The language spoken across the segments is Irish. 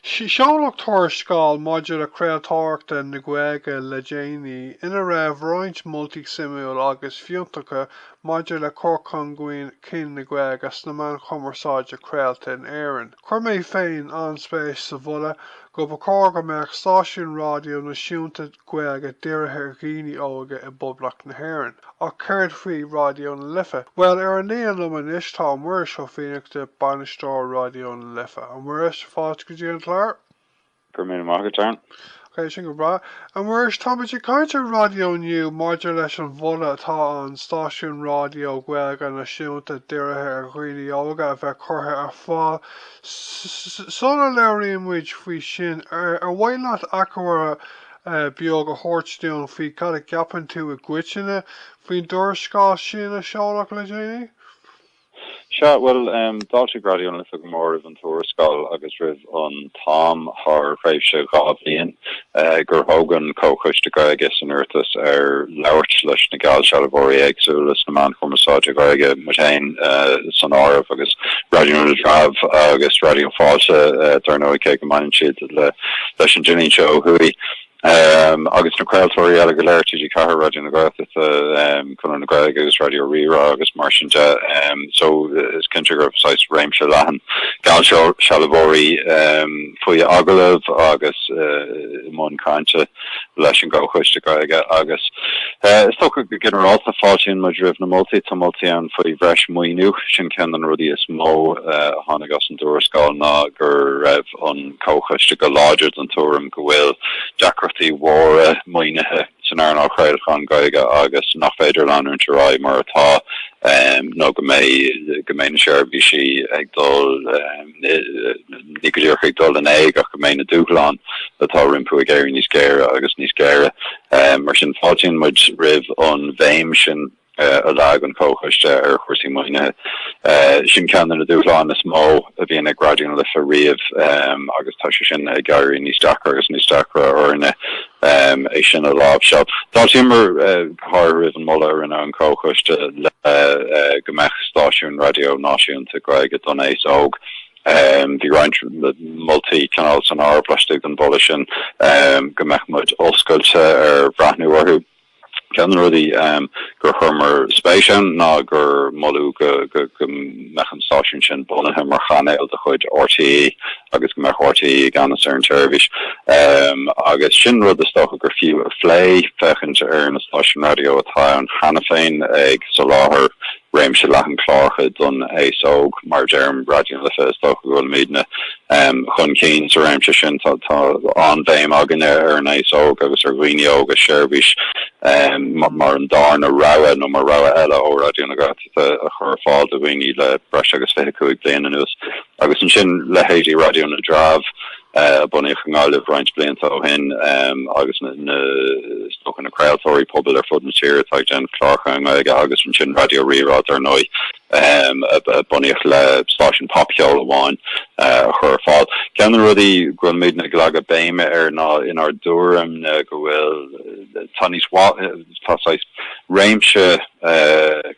Seoladh tuarascáil maidir le craoltóireacht na Gaeilge le déanaí ina raibh roinnt moltaí suimiúil agus fiúntacha maidir le cur chun cinn na Gaeilge sna meáin chumarsáide craolta in Éirinn. Chuir mé féin an-spéis sa mholadh go mba chóir go mbeadh stáisiún raidió náisiúnta Gaeilge dírithe ar dhaoine óga i bPoblacht na hÉireann. Ach céard faoi Raidió na Life? Bhuel, ar an líne liom anois tá Muiris Ó Fiannachta, Bainisteoir Raidió na Life. A Mhuiris, fáilte go dtí an clár! Go raibh míle maith agat, Darren. Ok, sin go breá. A Mhuiris, táimid ag caint raidió inniu maidir leis an mholadh atá ann stáisiún raidió Gaeilge náisiúnta dírithe ar dhaoine óga a bheith curtha ar fáil Sula labhraíonn muid faoi sin, ar mhaith leat achoimre beag a thabhairt dúinn faoi cad a cheapann tú i gcoitinne faoin dtuarascáil sin a seoladh le déanaí? Sea, bhuel, d'fháiltigh Raidió na Life go mór roimh an tuarascáil agus roimh an t-am thar thréimhse dhá bhliain gur thóg an Comhchoiste Gaeilge san Oireachtas ar labhairt leis na geallsealbhóirí éagsúla sna meáin chumarsáide Ghaeilge, muid féin san áireamh, agus Raidió na dTreabh agus Raidió Fáilte dar ndóigh, cé go mbaineann siad leis an dlínse ó thuaidh, agus na craoltóirí eile go léir, TG4, Raidió na Gaeltachta. Conradh na Gaeilge agus Raidió Rí-Rá agus mar sin de. So is cinnte go raibh saghas réimse leathan geallsealbhóirí faoi agallamh agus i mbun cainte leis an gComhchoiste Gaeilge agus is dócha go ginearálta fáiltíonn muid roimh na moltaí. Tá moltaí ann faoi bhreis maoiniú, sin ceann de na rudaí is mó a tháinig as an dtuarascáil ná go raibh an Comhchoiste go láidir den tuairim go bhfuil deacrachtaí mhóra maoinithe. san earnáil chraolacháin Ghaeilge agus nach féidir leanúint ar aghaidh mar atá nó go mbeidh go mbeidh na seirbhísí ag dul ní go díreach ag dul in éag ach go mbeidh na dúshláin atá rompu ag éirí níos géire agus níos géire. Mar sin fáiltíonn muid roimh an bhéim sin. a leag an Comhchoiste ar chúrsaí maoinithe. Sin ceann de na dúshláin is mó a bhíonn ag Raidió na Life riamh agus tá sé sin ag éirí níos deacra agus níos deacra orainne é sin a láimhseáil. D'fháiltíomar go háirithe roimh an moladh a rinne an Comhchoiste le go mbeadh stáisiún raidió náisiúnta Gaeilge don aos óg. Bhí roinnt moltaí cineál san áireamh laistigh den mholadh sin go mbeadh muid oscailte ar bhreathnú orthu. Ceann de na rudaí gur chuireamar spéis ann ná gur moladh go mbeadh an stáisiún sin bunaithe mar chainéal de chuid RTÉ agus go mbeadh RTÉ i gceannas ar an tseirbhís agus sin rud is dócha gur fiú a phlé, féachaint ar na stáisiúin raidió atá ann cheana féin ag soláthar réimse leathan cláracha don aos óg, mar a deirim, Raidió na Life, is dócha go bhfuil muidne chun cinn sa réimse sin. Tá an-bhéim againne ar an aos óg agus ar dhaoine óga seirbhís mar an dárna rogha nó mar rogha eile ó Raidió na Gaeltachta a chur ar fáil do dhaoine le breis agus fiche cúig bliain anuas. Agus ansin leithéidí Raidió na dTreabh, a bunaíodh i nGaillimh roinnt blianta ó shin, agus na scórtha craoltóirí pobail ar fud na tíre atá ag déanamh cláracha i nGaeilge, agus ansin Raidió Rí-Rá, dar ndóigh, a bunaíodh le stáisiún popcheoil amháin a chur ar fáil. Ceann de na rudaí go bhfuil muidne ag leagadh béime air ná, inár dtuairim-ne, go bhfuil, tá níos, tá saghas réimse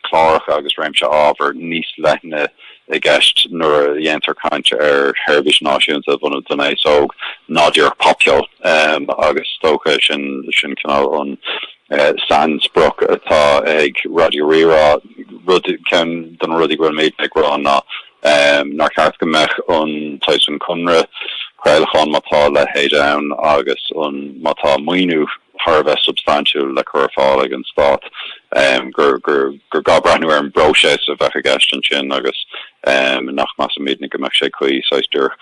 cláracha agus réimse ábhar níos leithne, i gceist nuair a dhéantar caint ar sheirbhís náisiúnta a bhunú don aos óg, ná díreach popcheol. Agus is dócha sin cineál an sainsprioc atá ag Raidió Rí-Rá. Rud, ceann de na rudaí go bhfuil muidne ag rá ná nár cheart go mbeadh an t-aon chonradh craolacháin, má tá a leithéid ann, agus má tá maoiniú, thar a bheith substaintiúil le cur ar fáil ag an Stát, gur gá breathnú ar an bpróiseas a bheadh i gceist ansin agus nach measann muidne go mbeadh sé cuí saghas díreach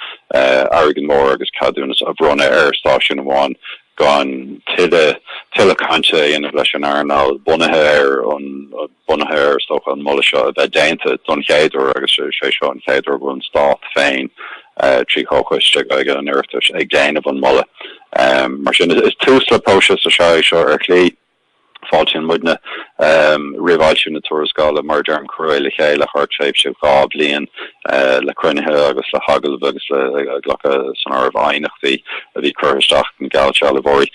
airgead mór agus ceadúnas a bhronnadh ar stáisiún amháin gan tuilleadh cainte a dhéanamh leis an earnáil bunaithe ar an Bunaithe ar, is dócha, an moladh seo a bheith déanta don chéad uair agus is é seo an chéad uair go bhfuil an Stát féin, trí Chomhchoiste Gaeilge an Oireachtais, ag déanamh an moladh. Mar sin, is tús le próiseas atá é seo ar shlí. Fáiltíonn muidne roimh fhoilsiú na tuarascála. Mar a deirim, cuireadh é le chéile thar tréimhse dhá bhliain. le cruinnithe agus le hagallaimh agus le glacadh san áireamh aighneachtaí a bhí curtha isteach ag na geallsealbhóirí.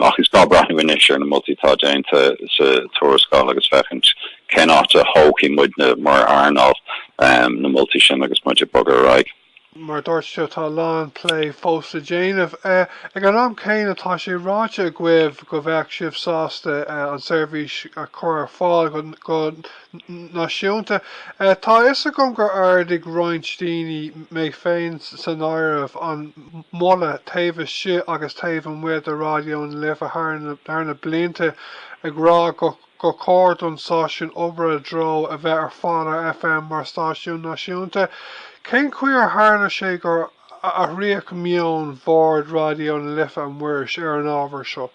Ach is gá breathnú anois ar na moltaí atá déanta sa tuarascáil agus féachaint cén áit a thógfaidh muidne mar earnáil na moltaí sin agus muid ag bogadh ar aghaidh. Mar a dúirt tú, tá a lán plé fós le déanamh. Ag an am céanna, tá sé ráite agaibh go mbeadh sibh sásta an tseirbhís a chur ar fáil go náisiúnta. Tá a fhios agam gur ardaigh roinnt daoine, mé féin san áireamh, an moladh taobh istigh agus taobh amuigh de Raidió na Life thar na blianta ag rá gur chóir don stáisiún obair i dtreo a bheith ar fáil ar FM mar stáisiún náisiúnta. Cén chaoi ar tharla sé gur athraíodh meon Bhord Raidió na Life, a Mhuiris, ar an ábhar seo?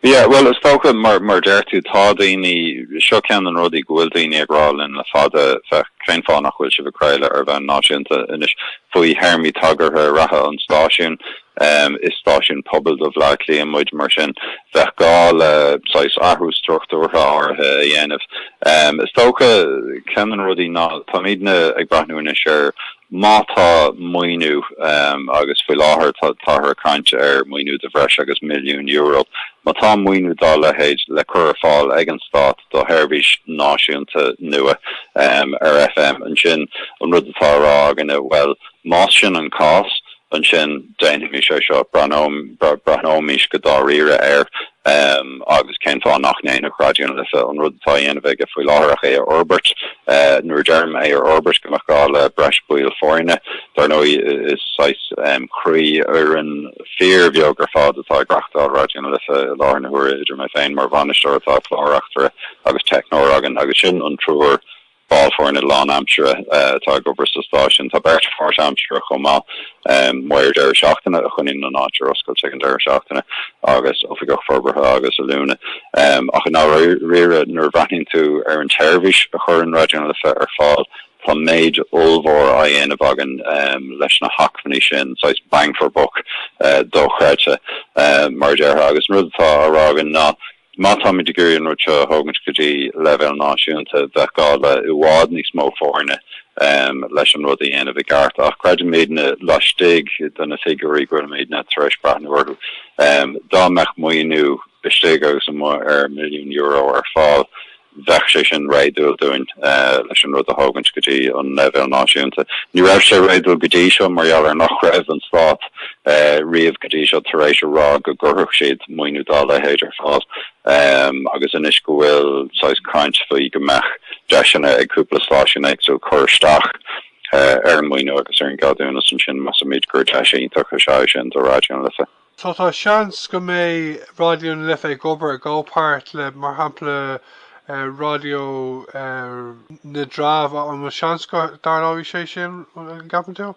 Yeah, bhuel, is dócha, mar a deir tú, tá daoine, seo ceann de na rudaí go bhfuil daoine ag rá linn le fada, féach, cén fáth nach bhfuil sibh ag craoladh ar bhonn náisiúnta anois faoi théarmaí tagartha reatha an stáisiúin? Is stáisiún pobail do Bhleá Cliath muid, mar sin bheadh gá le, saghas, athrú struchtúrtha áirithe a dhéanamh. Is dócha, ceann de na rudaí ná, táimidne ag breathnú anois ar, Má tá maoiniú, agus faoi láthair táthar ag caint ar mhaoiniú de bhreis agus milliún euro, má tá maoiniú dá leithéid le cur ar fáil ag an Stát do sheirbhís náisiúnta nua ar FM, ansin an rud atá á rá againne, bhuel, más sin an cás, ansin déanfaimis é seo, breathnóimis go dáiríre air. Emm, agus cén fáth nach ndéanfadh Raidió na Life an rud atá á dhéanamh aige faoi láthair ach é a fhorbairt? Nuair a deirim é a fhorbairt, go mbeadh gá le breis baill foirne. Dár ndóigh, is saghas, emm, croífhoireann fíorbheag ar fad atá ag reachtáil Raidió na Life i láthair na huaire, idir mé féin mar bhainisteoir, tá clárreachtaire agus teicneoir againn agus sin an triúr Ball foirne lánaimseartha atá ag obair sa stáisiún. Tá beirt pháirtaimseartha chomh maith, maor deireadh seachtaine a choinníonn an áit ar oscailt ag an deireadh seachtaine agus oifigeach forbartha agus oiliúna. Ach i ndáiríre, nuair a bhreathnaíonn tú ar an tseirbhís a chuireann Raidió na Life ar fáil, tá méid ollmhór á dhéanamh againn leis na hacmhainní sin, saghas bang for buck dochreidte, mar a déarfá. Agus an rud atá á rá againne ná. Má táimid ag iarraidh an rud seo a thógaint go dtí leibhéal náisiúnta, bheadh gá le i bhfad níos mó foirne leis an rud a dhéanamh i gceart. Ach creidimidne laistigh de na figiúirí go bhfuilimidne tar éis breathnú orthu, dá mbeadh maoiniú istigh agus amuigh ar milliún euro ar fáil, Bheadh sé sin réadúil dúinn leis an rud a thógaint go dtí an leibhéal náisiúnta. Ní raibh sé réadúil go dtí seo mar gheall ar nach raibh an Stát riamh go dtí seo tar éis a rá go gcuirfeadh siad maoiniú dá leithéid ar fáil agus anois go bhfuil saghas caint faoi go mbeadh deiseanna ag cúpla stáisiún éagsúil cur isteach ar an maoiniú agus ar an gceadúnas ansin measaimid gur deis iontach is ea é sin do Raidió na Life. So tá seans go mbeidh Raidió na Life ag obair i gcomhpáirt le mar shampla Raidió na dTreabh, an bhfuil seans go dtarlóidh sé sin, an gceapann tú?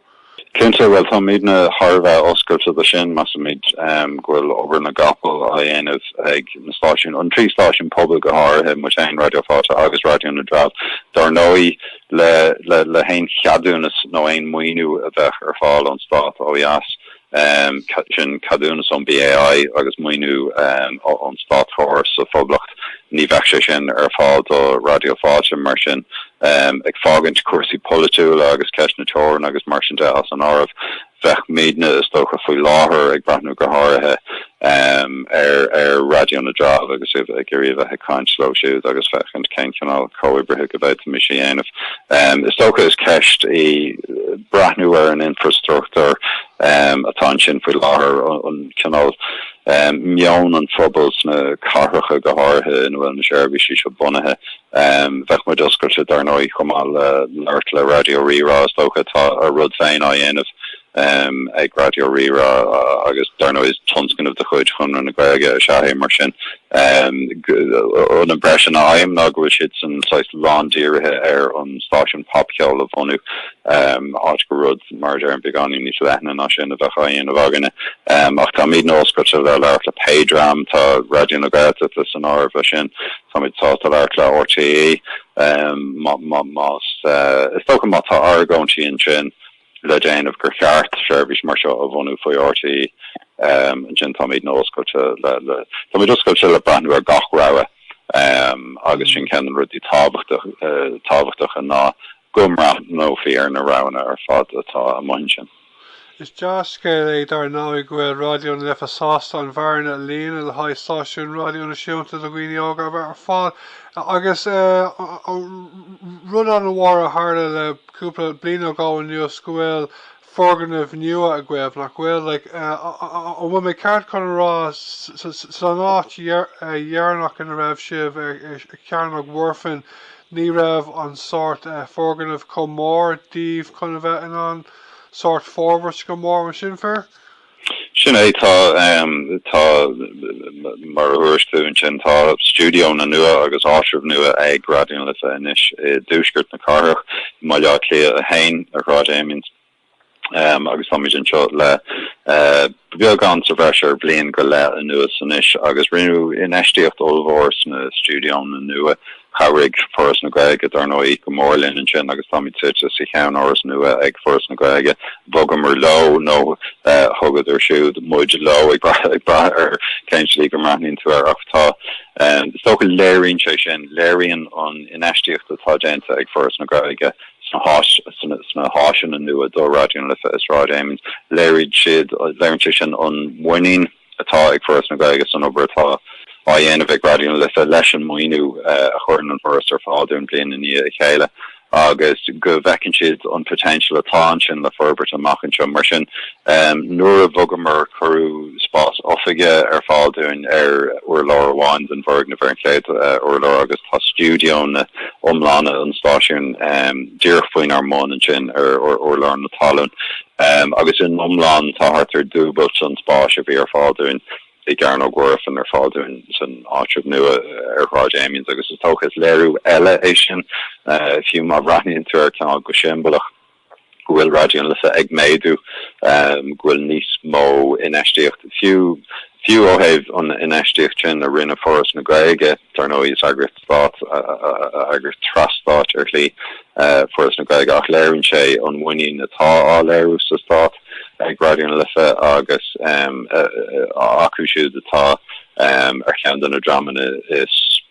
Cinnte, bhuel táimidne thar a bheith oscailte do sin, measaimid go bhfuil obair na gcapall á dhéanamh ag na stáisiúin, an trí stáisiún pobail go háirithe, muid féin, Raidió Fáilte agus Raidió na dTreabh dár ndóigh, le haon cheadúnas nó aon maoiniú a bheadh ar fáil ón stát ó dheas. sin ceadúnas ón BAI agus maoiniú ón státchóras sa Phoblacht, ní bheadh sé sin ar fáil do Raidió Fáilte. Mar sin, ag fágaint cúrsaí polaitiúla agus ceist na teorann agus mar sin de as an áireamh, bheadh muidne, is dócha, faoi láthair, ag breathnú go háirithe ar Raidió na dTreabh agus ag iarraidh a bheith ag caint leo siúd agus féachaint cén cineál comhoibrithe go bhféadfaimis a dhéanamh. Is dócha is ceist í breathnú ar an infreastruchtúr atá ansin faoi láthair, an cineál meon an phobail sna cathracha go háirithe ina bhfuil na seirbhísí seo bunaithe. Bheadh muid oscailte dar ndóigh chomh maith le labhairt le Raidió Rí-Rá, is dócha atá a rud féin á dhéanamh ag Raidió Rí-Rá agus dar ndóigh is tionscnamh de chuid Chonradh na Gaeilge is ea é mar sin an impression a fhaighim ná go bhfuil siad saghas lándírithe ar an stáisiún popcheoil a bhunú áit go rud mar a deireann beagáinín níos leithne ná sin a bheadh á dhéanamh againne ach táimidne oscailte le labhairt le pé dream atá, Raidió na Gaeltachta san áireamh leis sin táimid sásta labhairt le RTÉ más is dócha má tá argóintí ansin le déanamh gur cheart seirbhís mar seo a bhunú faoi RTÉ, ansin táimidne oscailte le táimid oscailte le breathnú ar gach rogha. Agus sin ceann de na rudaí tábhachtacha ná go mbreathnófaí ar na roghanna ar fad atá amuigh ansin. Is dea-scéal é dar ndóigh go bhfuil Raidió na Life sásta an bhearna a líonadh le haghaidh stáisiún raidió náisiúnta do dhaoine óga ar fáil agus rud an-mhór a tharla le cúpla bliain ó go anuas go bhfuil foirgneamh nua agaibh, nach bhfuil? Like, an bhfuil mé ceart chun a rá san áit dheireanach ina raibh sibh, ar Chearnóg Mhuirfean, ní raibh an sórt foirgneamh chomh mór daoibh chun a bheith in ann sórt forbairt go mór, an sin fair? Sin é, tá, tá, mar a thagair tú ansin, tá stiúideonna nua agus áitreabh nua ag Raidió na Life anois i dtuaisceart na cathrach, i mBaile Átha Cliath 1, ar Shráid Amiens, agus táimid anseo le beagán sa bhreis ar bhliain go leith anuas anois, agus rinneadh infheistíocht ollmhór sna stiúideonna nua Chabhraigh Foras na Gaeilge, dar ndóigh, go mór linn ansin agus táimid suite sa cheannáras nua ag Foras na Gaeilge. Bhogamar leo, nó thugadar siúd muid leo, ag brath ar cén slí go mbreathnaíonn tú air, ach tá, is dócha, léiríonn sé sin, léiríonn an infheistíocht atá déanta ag Foras na Gaeilge sna háiseanna nua do Raidió na Life i Sráid Amiens, léiríonn siad, léiríonn sé sin an mhuinín. atá ag Foras na Gaeilge san obair atá á dhéanamh ag Raidió na Life leis an maoiniú a chuireann an Foras ar fáil dúinn bliain i ndiaidh a chéile agus go bhfeiceann siad an poitéinseal atá ansin le forbairt amach anseo. Mar sin, nuair a bhogamar, cuireadh spás oifige ar fáil dúinn ar urlár amháin den bhfoirgneamh ar an chéad urlár agus tá stiúideónna iomlána an stáisiúin díreach faoinár mbun ansin ar urlár na talún. Um agus in iomlán tá thart ar dúbailt an spás a bhí ar fáil dúinn i gCearnóg Mhuirfean ar fáil dúinn san áitreabh nua ar Shráid Amiens agus is dócha is léiriú eile é sin, fiú má bhreathnaíonn tú air cineál go siombalach, go bhfuil Raidió na Life ag méadú, um go bhfuil níos mó infheistíochta, fiú fiú ó thaobh an infheistíocht sin a rinne Foras na Gaeilge, dar ndóigh, is eagraíocht. stáit agus tras-stáit ar shlí, Foras na Gaeilge, ach léiríonn sé an mhuinín atá á léiriú sa stát ag Raidió na Life agus acu siúd atá ar cheann de na dreamanna is,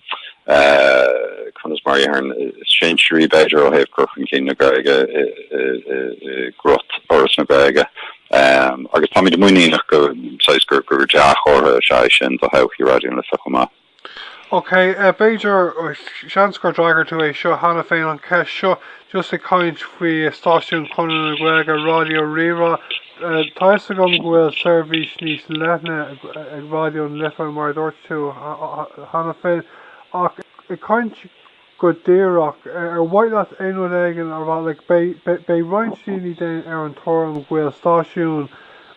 conas mar a dhéarfainn, is sinsearaí, b'fhéidir, ó thaobh cur chun cinn na Gaeilge i gcruth Fhoras na Gaeilge. Agus táimid muiníneach gur dea-chomhartha is ea é sin do thodhchaí Raidió na Life chomh maith. Ok, b'fhéidir, seans gur d'fhreagair tú é seo cheana féin, an cheist seo, just ag caint faoi stáisiún Chonradh na Gaeilge, Ráidió Rí-Rá, tá fhios agam go bhfuil seirbhís níos leithne ag Ráidió na Life mar a dúirt tú cheana féin, ach ag caint go díreach. Ar mhaith leat aon rud éigin a rá? Like, beidh, beidh roinnt daoine daoine ar an tuairim go bhfuil stáisiún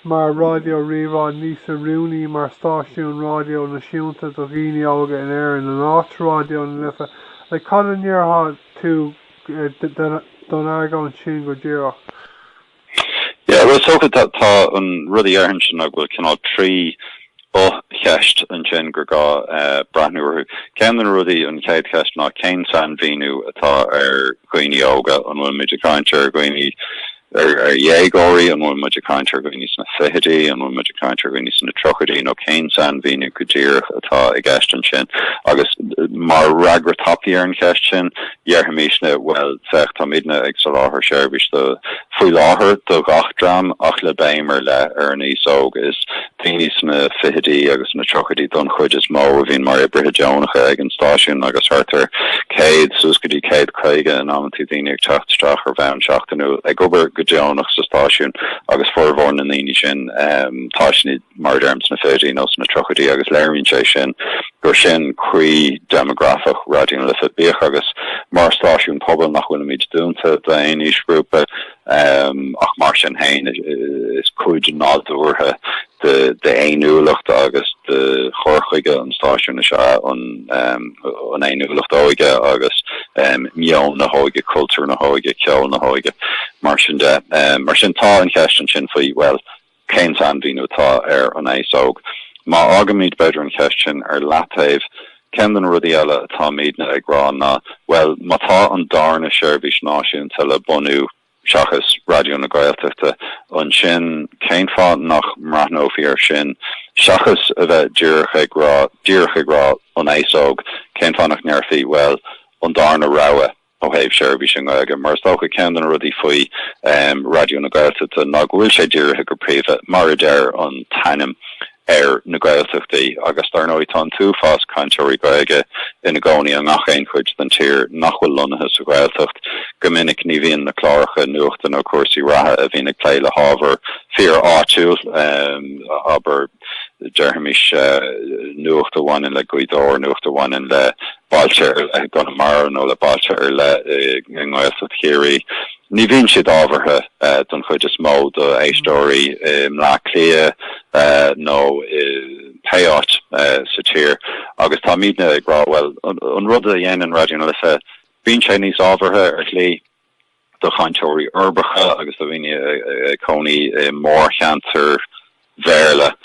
mar Ráidió Rí-Rá níos oiriúnaí mar stáisiún ráidió náisiúnta do dhaoine óga in Éirinn in áit Ráidió na Life. Like, cad a ndéarfá tú don argóint sin go díreach? Yeah, bhuel, is dócha tá an rud a dhéarfainnse ná go bhfuil cineál trí fho-cheist ansin gur gá breathnú orthu. Ceann de na rudaí, an chéad cheist ná cén sainmhíniú atá ar dhaoine óga? An bhfuil muid ag caint ar dhaoine, ar dhéagóirí, an bhfuil muid ag caint ar dhaoine sna fichidí, an bhfuil muid ag caint ar dhaoine sna tríochaidí nó cén sainmhíniú go díreach atá i gceist ansin? Agus mar fhreagra tapaidh ar an cheist sin, Dhéarfaimisne, bhuel, féach, táimidne ag soláthar seirbhís do, faoi láthair, do gach dream ach le béim ar leith ar an aos óg. Is daoine sna fichidí agus sna tríochaidí don chuid is mó a bhíonn mar oibrithe deonacha ag an stáisiún agus thart ar 100 suas go dtí 150 in amanntaí daoine ag teacht isteach ar bhonn seachtainiúil ag obair go deonach sa stáisiún agus formhór na ndaoine sin tá siad mar a deirim, sna fichidí nó sna tríochaidí agus léiríonn sé sin gur sin croí déimeagrafach Raidió na Life. Bíodh agus, mar stáisiún pobail, nach bhfuilimid dúnta d'aon aoisghrúpa, ach mar sin féin is cuid nádúrtha d'fhéiniúlacht agus de chur chuige an stáisiúin is ea an fhéiniúlacht óige agus meon na hóige, cultúr na hóige, ceol na hóige mar sin de. Mar sin tá an cheist ansin faoi, bhuel, Cén sainmhíniú atá ar an aos óg? Má fhágaimid b'fhéidir an cheist sin ar leataobh, ceann de na rudaí eile atáimidne ag rá ná, bhuel, má tá an darna seirbhís náisiúnta le bunú, seachas Raidió na Gaeltachta, ansin cén fáth nach mbreathnófaí air sin, seachas a bheith díreach ag rá, díreach ag rá, an aos óg, cén fáth nach ndéarfaí, bhuel, an darna rogha? Ó thaobh seirbhís i nGaeilge, mar is dócha, ceann de na rudaí faoi Raidió na Gaeltachta ná go bhfuil sé dírithe go príomha, mar a deir an t-ainm, ar na Gaeltachtaí. Agus dar ndóigh tá an t-uafás cainteoirí Gaeilge ina gcónaí i ngach aon chuid den tír nach bhfuil lonnaithe sa Ghaeltacht. Go minic ní bhíonn na cláracha nuachta nó cúrsaí reatha a bhíonn ag plé le hábhar fíor áitiúil, abair, déaraimis, nuacht a bhaineann le Gaoth Dobhair, nuacht a bhaineann le. bailte ar leith i gConamara nó le bailte ar leith i nGaeltacht Chiarraí. Ní bhíonn siad ábhartha, don chuid is mó, do éisteoirí i mBleá Cliath nó i pé áit sa tír. Agus táimidne ag rá, bhuel, an rud a dhéanann Raidió na Life, bíonn sé níos ábhartha, ar shlí. do chainteoirí uirbeacha agus do dhaoine ag cónaí i mórcheantair Bhéarla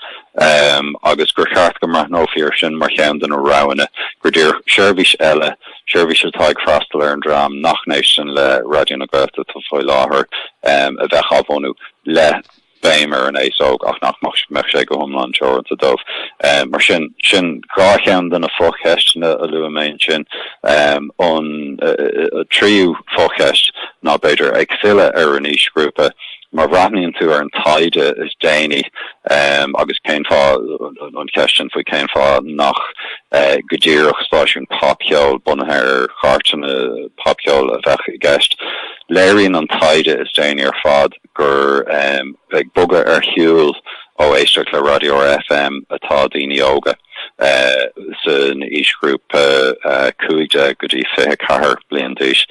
agus gur cheart go mbreathnófaí air sin mar cheann de na roghanna gur díreach seirbhís eile, seirbhís atá ag freastal ar an dream nach n-éisteann le Raidió na Gaeltachta faoi láthair, a bheadh á bhunú le. béim ar an aos óg ach nach mbeadh sé go hiomlán teoranta dóibh. Mar sin, sin dhá cheann de na fo-cheisteanna a luaigh mé ansin. An tríú fo-cheist ná, b'fhéidir, ag filleadh ar an aoisghrúpa, má bhreathnaíonn tú ar an taighde is déanaí agus cén fáth, an cheist sin faoi cén fáth nach go díreach stáisiún popcheoil bunaithe ar chairteanna popcheoil a bheadh i gceist, léiríonn an taighde is déanaí ar fad, gur ag bogadh ar shiúl ó éisteacht le raidió ar FM atá daoine óga san aoisghrúpa 15 go dtí 24 bliain d'aois.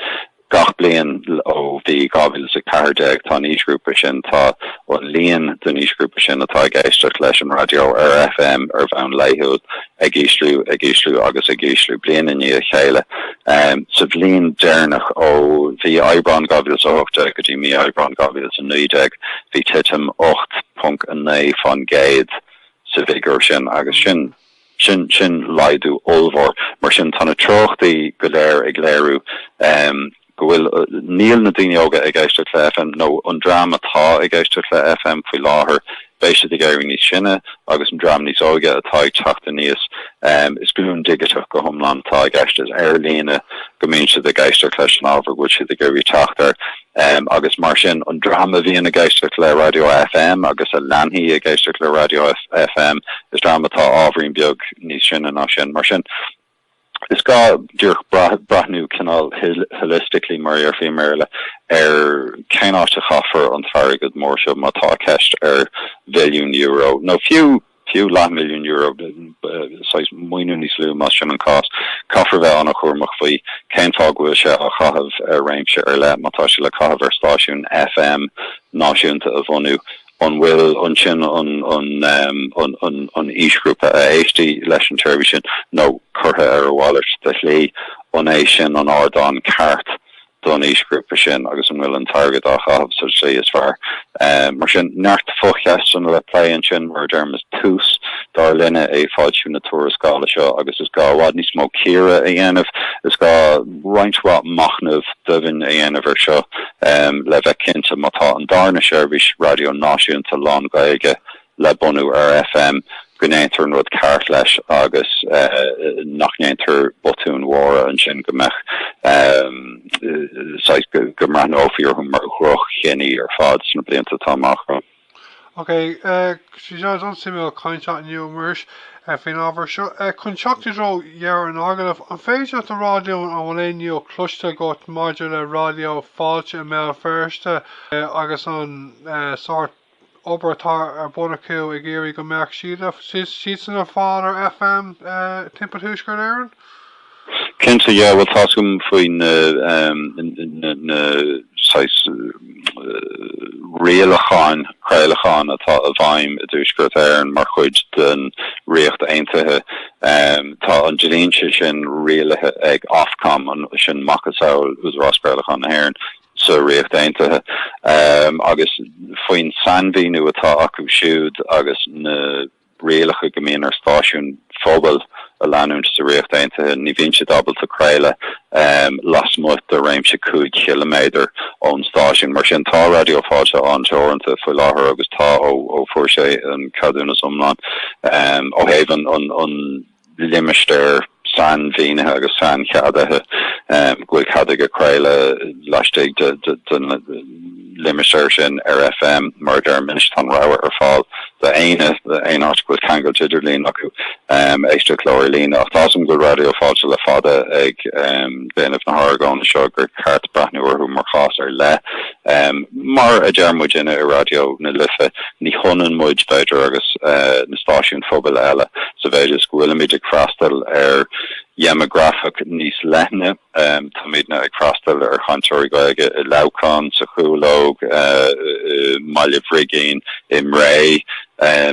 Gach bliain ó bhí 2014, tá an aoisghrúpa sin, tá an líon den aoisghrúpa sin atá ag éisteacht leis an raidió ar FM ar bhonn laethúil, ag ísliú, ag ísliú agus ag ísliú bliain i ndiaidh a chéile. Sa bhliain deireanach, ó bhí Aibreán 2018 go dtí mí Aibreáin 2019, bhí titim 8.9 faoin gcéad sa bhfigiúr sin agus sin sin sin laghdú ollmhór. Mar sin, tá na treochtaí go léir ag léiriú go bhfuil, níl na daoine óga ag éisteacht le FM, nó an dream atá ag éisteacht le FM faoi láthair, beidh siad ag éirí níos sine, agus an dream níos óige atá ag teacht aníos, is glúin dhigiteach go hiomlán atá i gceist, is ar líne go mbíonn siad ag éisteacht leis an ábhar a bhfuil siad ag iarraidh teacht air, agus mar sin an dream a bhíonn ag éisteacht le raidió FM agus a leanfaidh ag éisteacht le raidió FM, is dream atá ábhairín beag níos sine ná sin. Mar sin. Is gá díreach breathnú cineál holistically, mar a dhéarfaí i mBéarla, ar cén áit a chaithfear an t-airgead mór seo, má tá ceist ar mhilliún euro, nó fiú, fiú leathmhilliún euro, saghas maoiniú níos lú, más sin an cás, caithfear a bheith an-chúramach faoi cén fáth go bhfuil sé á chaitheamh ar réimse ar leith, má tá sé le caitheamh ar stáisiún FM náisiúnta a bhunú An bhfuil ann sin an aoisghrúpa a éistfidh leis an tseirbhís sin, nó curtha ar a mhalairt de shlí, an é sin an ardán ceart don aoisghrúpa sin agus an bhfuil an t-airgead á chaitheamh sa tslí is fearr? Mar sin, neart focheisteanna le plé ansin. Mar a deirim, is tús, dar linne, é foilsiú na tuarascála seo agus is gá i bhfad níos mó cíoradh a dhéanamh. Is gá. roinnt mhaith machnaimh doimhin a dhéanamh air seo le bheith cinnte má tá an darna seirbhís raidió náisiúnta lán-Ghaeilge le bunú ar FM go ndéantar an rud ceart leis agus nach ndéantar botúin mhóra ansin go mbeadh saghas, go mbreathnófaí orthu mar dhroch-chinní ar fad sna blianta atá amach romhainn. Ok, is an-suimiúil caint leat inniu, a Mhuiris, faoin ábhar seo. Chun teacht i dtreo dheireadh an agallaimh, an féidir leat a rá dúinn an bhfuil aon ní nua cloiste agat maidir le Raidió Fáilte i mBéal Feirste agus an sórt obair atá ar bun acu ag iarraidh go mbeadh siadsan ar fáil ar FM timpeall Thuaisceart Éireann? Cinnte, yeah, bhuel tá a fhios agam faoi na na saghas rialacháin chraolacháin atá i bhfeidhm i dTuaisceart Éireann mar chuid den Ríocht Aontaithe. Tá an dlínse sin rialaithe ag Ofcom, sin macasamhail Údarás Craolacháin na hÉireann sa Ríocht Aontaithe, agus faoin sainmhíniú atá acu siúd agus na. rialacha go mbíonn ar stáisiúin phobail a leanúint. Sa Ríocht Aontaithe, ní bhíonn siad ábalta craoladh lasmuigh de réimse cúig chiliméadar ón stáisiún. Mar sin, tá Raidió Fáilte an-teoranta faoi láthair agus tá ó fuair sé an ceadúnas iomlán ó thaobh an limistéar sainmhínithe agus saincheadaithe, go bhfuil cead aige craoladh laistigh den limistéar sin ar FM. Mar a deirim anois, tá an rogha ar fáil do éinne, aon áit go bhfuil ceangal idirlín acu, éisteacht leo ar líne. Ach measaim go bhfuil Raidió Fáilte le fada ag déanamh na hargóna seo gur ceart breathnú orthu mar chás ar leith. Mar a deir muidinne i Raidió na Life, ní hionann muid, b'fhéidir, agus na stáisiúin phobail eile sa mhéid is go bhfuilimid ag freastal ar dhéimeagrafach níos leithne. Táimidne ag freastal ar chainteoirí Gaeilge i Leamhcán, sa Chúlóg, i mBaile Bhrigín, i mBré.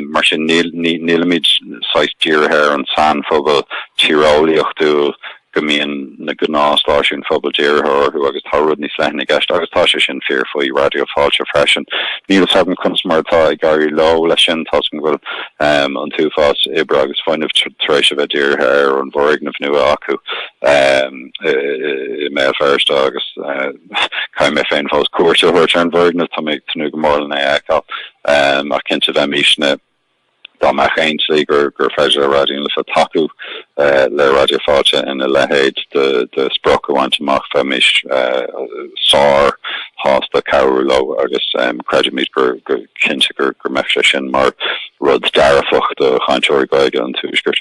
Mar sin nílimid saghas dírithe ar an saghas pobail tíreolaíochtúil. a mbíonn na gnáthstáisiúin phobail dírithe orthu agus tá rud níos leithne i gceist agus tá sé sin fíor faoi Raidió Fáilte freisin. Níl 'fhios agam conas mar atá ag éirí leo leis sin toisc go bhfuil an t-uafás oibre agus fuinnimh tar éis a bheith dírithe ar an bhfoirgneamh nua acu i mBéal Feirste agus caithfidh mé féin fós cuairt a thabhairt ar an bhfoirgneamh, tá mé ag tnúth go mór lena fheiceáil ach cinnte bheimisne. dá mbeadh aon slí gur féidir le Raidió na Life tacú le Raidió Fáilte ina leithéid de sprioc a bhaint amach, bheimis sár-shásta cabhrú leo agus creidimid go cinnte go mbeadh sé sin mar rud dearfach do chainteoirí Gaeilge an tuaiscirt.